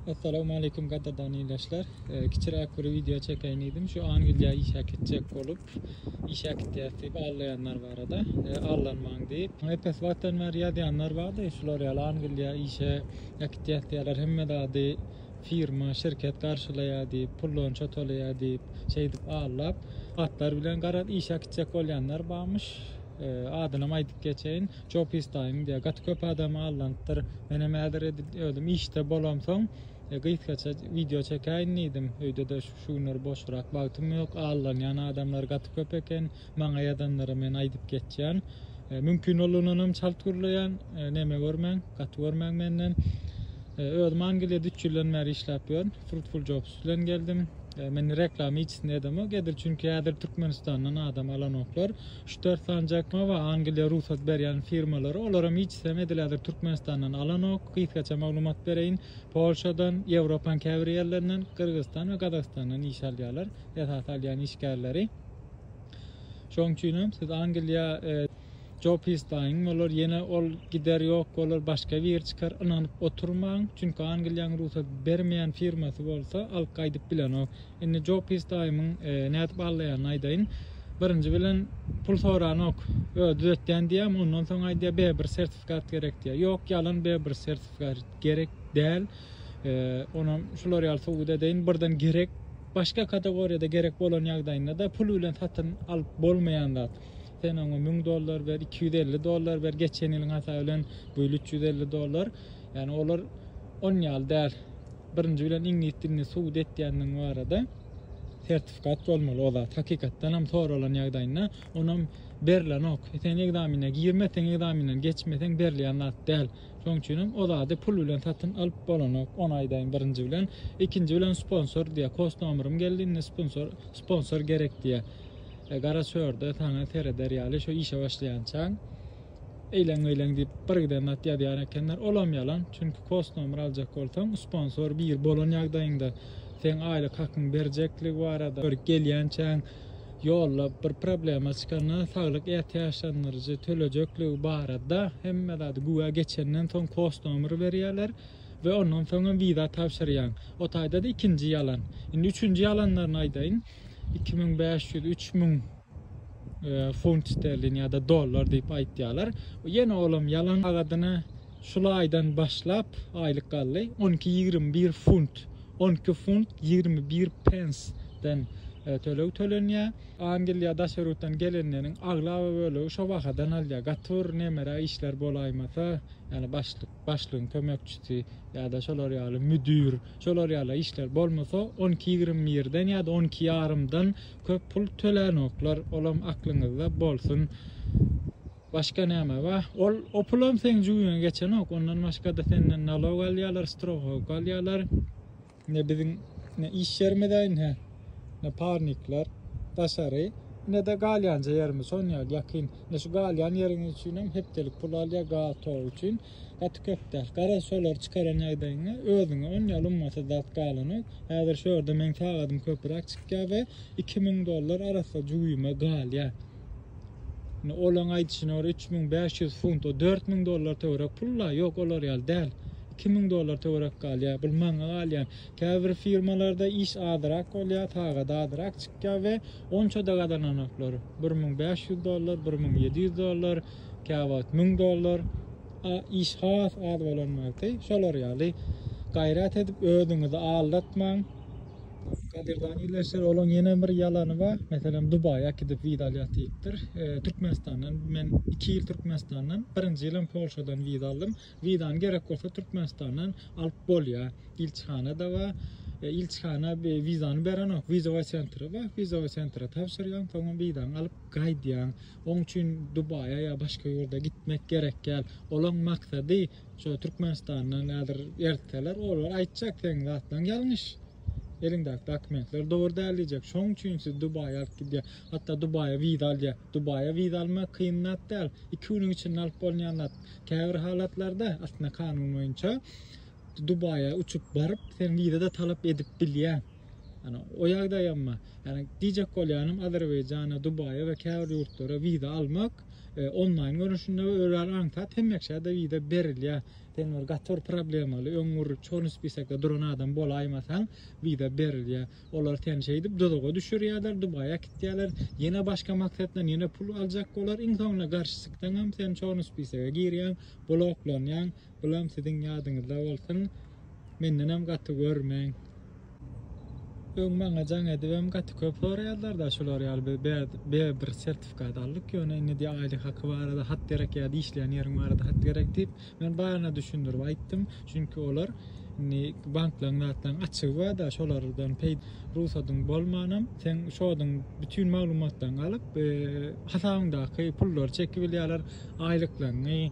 Assalamualeýkum gadyrdan ildeşler. Kiçiräk bir wideo çekeýin diýdim. Şu Angliýa işe gitjek bolup, işe gitýäs diýip allaýanlar barada. Allanmaň diýip, epes wagtdan bäri ýazýanlar bardy. Şular ýaly Angliýa işe gitýäs diýýärler. Hemme zady firma, şirket garşylaýar diýip, pullonça tolaýar diýip, şeýdip allap, atlar bilen garaz işe gitjek bolýanlar barmyş. Adynam aýdyp geçeýin. Joe Pistaýyň diýýär. Gaty köp adamy aldanypdyr. Menem häzir edil özüm işde bolamsoň, gysgaça wideo çekäýin diýdim. Öýde-de şu günler boşrak wagtym ýok. Aldanýan adamlar gaty köp eken. Maňa ýazanlara men aýdyp geçýän. Mümkin bolanynam çalt gürleýän. Neme görmäň, gaty görmäň menden. Özüm Angliýada üç ýyldan bäri işläp ýörün. Fruitful Jobs bilen geldim. Men reklama hiçisini edemok. Edil çünki häzir Türkmenistandan adam alanoklar. Ştersan Jackma we Angliýa rugsat berýän firmalary, olaram hiç sem edil häzir Türkmenistandan alanok, gysgaça maglumat bereýin, Polşadan, Ýewropaň käbir ýerlerinden, Gyrgyzystan we Gazagystandan iş alýarlar, esasy alýan işgärleri. Şoň üçinem siz Angliýa. Job islaýyň, bolar, ýene ol gider ýok bolar, başga biri çykar, ynanyp oturmaň, çünki Angliýaň rugsat bermeýän firmasy bolsa alyp gaýdyp bilenok. Indi Joe Pis daýymyň nädip aglýanyny aýdaýyn. Birinji bilen pul soranok. Özi düzetýän diýýär, ondan soň aýdýar, B1 sertifikat gerek diýýär. Ýok, ýalan, B1 sertifikat gerek däl. Onam şular ýaly subut edeýin, birden gerek. Başga kategoriýada gerek bolan ýagdaýynda-da pul bilen satyn alyp bolmaýan zat. Sen oňa müň dollar ber, iki ýüz elli dollar ber, geçen ýylyň hasaby bilen bu ýyl üç ýüz elli dollar. Ýani olar on ýaly däl. Birinji bilen iňlis dilini subut etýändigiň barada sertifikat bolmaly o zat hakykatdanam soralan ýagdaýynda onam berlenok sen ekzamine girmeseň ekzaminden geçmeseň berilýän zat däl şoň üçinem o zady pul bilen satyn alyp bolanok ony aýdaýyn birinji bilen ikinji bilen sponsor diýä kost nomerym geldi indi sponsor sponsor gerek diýä e, gara çörde saňa sereder ýaly şu işe başlaýançaň eýleň meýleň diýip bir giden zat ýazýan ekenler. Olam ýalan. Çünki kost nomer aljak bolsaň, sponsor bir bolan ýagdaýyňda seň aýlyk hakyň berjekligi barada bir gelýänçäň ýolda bir problema çykanda saglyk ätiýaçlandyryjy tölejekligi barada hemme zady güwä geçenden soň kost nomer berýärler we ondan soňam wiza tabşyrýaň. O taýda-da ikinji ýalan. Indi üçünji ýalanlaryny aýdaýyn. 2500-3000 Funt sterlin ýa-da dollar diýip aýtýarlar. Ýene olam ýalan agadyna şul aýdan başlap aýlyk galdy. 12-21 funt, 12 funt 21 pensden e, töleg tölenýär. Angliýa daşary ýurtdan gelenleriň aglaba bölegi şo bahadan alýar. Gaty bir nemere işler bolaýmasa, ýani başlyk, başlygyň kömekçisi ýa-da şolar ýaly müdir, şolar ýaly işler bolmasa 12-21-den ýa-da 12 ýarymdan köp pul tölänoklar olam aklyňyzda bolsun başga näme ba ol o pulam seň jübiňe geçenok ondan başgada senden nalog alýalar strohowka alýalar ne biziň ne iş ýerimize ne ne parnikler daşary ne de galýanja ýerimiz şon ýaly ýakyn ne şu galýan ýeriňiz üçinem hepdelik pul alýa gaz tok üçin Gaty köp däl. Garaz şolary çykaran ýagdaýyňda özüňe on ýaly ummasyz zat galanok. Häzir şu ýerde meň sagadym köpüräk çykýar we iki müň dollar arassa jübime galýar. Indi olaň aýdyşyna görä üç müň bäş ýüz funt, o dört müň dollar töwerek pul-la, ýok olar ýaly däl. Iki müň dollar töwerek galýar. Bul maňa galýan. Käbir firmalarda iş azyrak bolýar, sagady azyrak çykýar we onça-da gazananoklar. Bir müň bäş ýüz dollar, bir müň ýedi ýüz dollar. käwagt müň dollar iş has az bolan wagty şolar ýaly gaýrat edip özüňizi aldatmaň. Gadyrdan ildeşler olaň ýene bir ýalany bar meselem Dubaýa äkidip wiza alýas diýipdir Türkmenistandan men iki ýyl Türkmenistandan birinji ýylam Polşadan wiza aldym. Wizany gerek bolsa Türkmenistandan alyp bolýa. Ilçihana da bar. E, ilçihana wizany berenok. Wizowa sentra bar. Wizowa sentra tabşyrýan, soňam wizany alyp gaýdýan. Oň üçin Dubaýa ýa başga ýurda gitmek gerek däl. Olaň maksady şu Türkmenistandan häzir ertseler, olar aýtjak seň zatlaň ýalňyş. Eliňdäki dokumentler dogry däl diýjek. Şoň üçin siz Dubaýa alyp gidýär. Hatda Dubaýa wiza alýar. Dubaýa wiza almak kyn zat däl. 2 günüň içinde alyp bolýan zat. Käbir halatlarda aslynda kanun boýunça Dubaýa uçup baryp sen wiza-da talap edip bilýän. Ýani o ýagdaýam bar. Ýani diýjek bolýanym Azerbaýjana, Dubaýa we käbir ýurtlara wiza almak e, onlaýn görnüşinde we örän aňsat hemmeşä-de wiza berilýär. Sen bir gaty bir problemaly, öň bir çorny spisekde duran adam bolaýmasaň, wiza berilýär. Olar seni şeýdip duzaga düşürýärler, Dubaýa äkitýärler. Ýene başga maksatdan ýene pul aljak bolar. Iň soňunda garşy çyksaňam sen çoň spisege girýäň, bloklanýaň. Bulam siziň ýadyňyzda bolsun. Mendenem gaty görmäň. Öň maňa jaň edibem gaty köp soraýarlar-da şular ýaly biz bäz bäz bir sertifikat aldyk ýöne indi diýýär aýlyk haky barada hat gerek ýa-da işleýän ýeriň barada hat gerek diýip Men baryna düşündirip aýtdym, çünki olar indi banklaryň zatlaryň açygy barda şolardan peýd rugsadyň bolmanam seň şodyň bütün maglumatlaryňy alyp hasabyňdaky pullary çekibilýärler aýlyklaryňy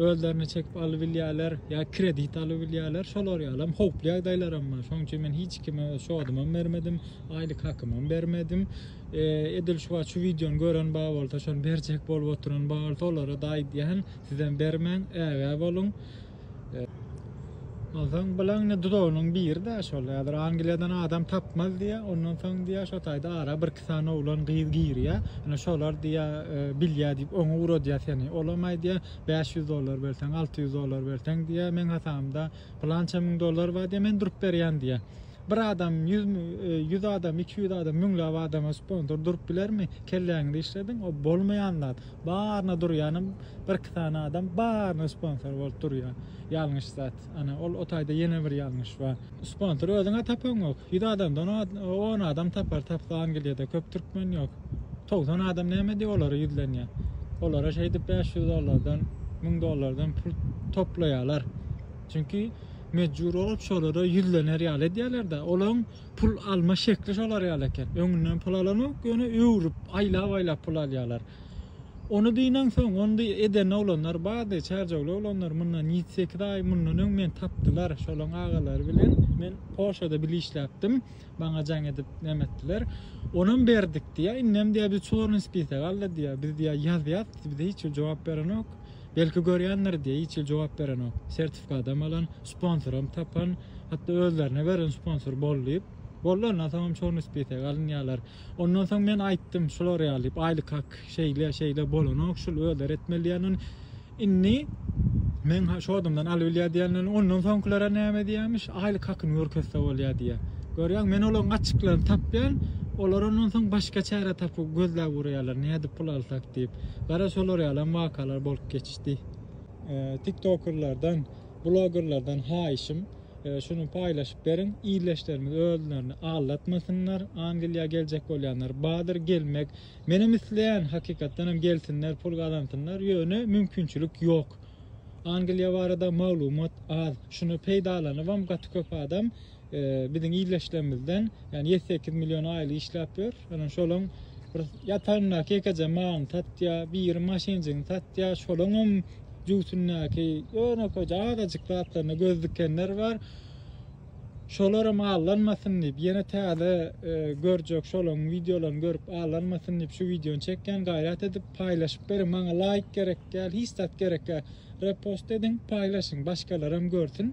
özlerine çekip alybilýärler ýa kredit alybilýärler şolar ýalam howply ýagdaýlaram bar şoň üçin men hiç kime öz şodymam bermedim aýlyk hakymam bermedim edil şu wagt şu wideony gören bar bolsa şony berjek bolup oturan bar bolsa olara-da aýdýan Sizem bermäň ägä boluň. Ondan soň bilaň ne dudagynyň biri de şol häzir Angliýadan adam tapmaz diýä. Ondan soň diýä şo taýda ara bir iki sany oglan gyz girýä. Ine şolar diýä e, bilýä diýip oňa ugradýa seni. Olam aýdýa 500 dollar berseň, 600 dollar berseň diýä. Meň hasamda plança müň dollar bar diýä. Men durup berýän diýä. Bir adam 100 100 e, adam, 200 adam, müňläp adama sponsor durup bilermi? Kelläňizi işlediň. O bolmaýan zat. Baryna durýanam birki sany adam baryna sponsor bolup durýar. Ýalňyş zat. Ana, ol o taýda ýene bir ýalňyş bar. Sponsor özüňe tapaňok. Ýüz adamdan on adam tapar, tapsa Angliýada köp türkmen ýok. Togsan adam näme diýip olara ýüzlenýär. Olara şeýdip bäş ýüz dollardan, müň dollardan pul toplaýarlar. Çünki mejbur bolup şolara ýüzlener ýaly edýärler-de. Olaň pul alma şekli şolar ýaly eken. Öňünden pul alanok, ýöne öwrüp, aýlap-aýlap pul alýarlar. Ony diýnen soň, ony eden oglanlar bardy, çärjewli oglanlar, mundan ýedi, sekiz aý mundan öň meni tapdylar, şolaryň agalary bilen men Polşada bile işläpdim, maňa jaň edip näme etdiler. Onam berdik diýýär, indem diýýär, biz çornyý spisek aldy diýýär, biz diýýär ýazýas, bize hiç kim jogap berenok. Belki görýändir diýýär, hiç hili jogap berenok. Sertifikadam alan, sponsoram tapan, hatda özlerine beren sponsor bol diýip. Boldy ondan soňam çorny spisege alynýarlar. Ondan soň men aýtdym şular ýaly diýip, aýlyk hak şeýle, şeýle bolanok, şul özleri etmeli diýenden indi men şo adamdan alybilýär diýenden ondan soňkylera näme diýermiş, aýlyk hakyny görkezse bolýar diýýär. Görýäň, men olaryň açyklaryny tapýan, olar ondan soň başga çäre tapyp gözläp urýarlar, nädip pul alsak diýip. Gara, şolar ýalam wakalar bolup geçdi. Tiktokerlerden, blogerlerden haýyşym, şuny paýlaşyp beriň, ildeşlerimiz özlerini aldatmasynlar, Angliýa geljek bolýanlar bardyr, gelmek menem isleýän, hakykatdanam gelsinler, pul gazansynlar, ýöne mümkinçilik ýok. Angliýa barada maglumat az, şuny peýdalanybam gaty köp adam Biziň ildeşlerimizden ýani ýedi sekiz million aýly işläp ýör. Ýöne şolaň bir ýataryndaky ýekeje malyny satýa, biri maşynjygyny satýa, şolaň hem jübütindäki ýönekeje azajyk zatlaryna göz dikenler bar. Şolar hem allanmasyn diýip, ýene täze görjek şolaň wideolaryny görüp allanmasyn diýip şu wideony çekýän. Gaýrat edip paýlaşyp beriň. Maňa laýk gerek däl, hiç zat gerek däl. Repost ediň, paýlaşyň, başgalar hem görsün.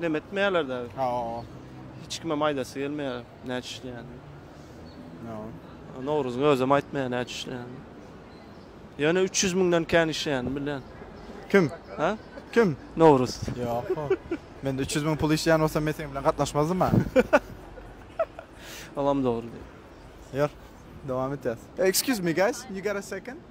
Neme etmeýärler däbi. Ha o. Hiç kimem aýdasy gelmeýär näçe işleýänini. No. Nowruzyň özem aýtmaýar näçe işleýänini. Ýöne 300 müňden kän işleýänini bilýän. Kim? Ha? Kim? Nowruz. Ýok. Men 300 müň pul işleýän bolsam men seniň bilen gatnaşmazdym ha. Olam dogry diýip. Ýör. Dowam etýäs. Excuse me guys, you got a second?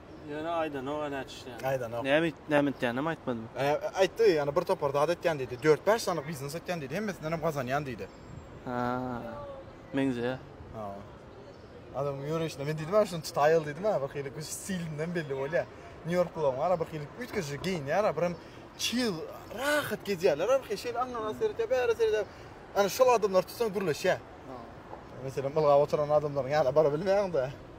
Ýöne aýdanok ä näçe işleýäni. Aýdanok. Näme it, näme itýäninem aýtmadymy? Ä, aýtdy, ýani bir topar zat etýän diýdi. Dört-bäş sany biznes etýän diýdi, hemmesindenem gazanýan diýdi. Hä, meňzeýär. Hä. Adamyň ýöreýşinden men diýdim-ä şuny tutaýaly diýdim-ä, bir hili göz stilinden belli bolýar. Nýu-Ýorklylaryň bar-a bir hili üýtgeşik geýinýär-ä, birem çyg, rahat gezýärler-ä bir hili. Şeýle aňňa-aňňa seretýär, bäre seredýär. Ana şol adamlary tutsaň gürleşýär. Meselem, ylgap oturan adamlaryň ýanyna bara bilmeýäň-de.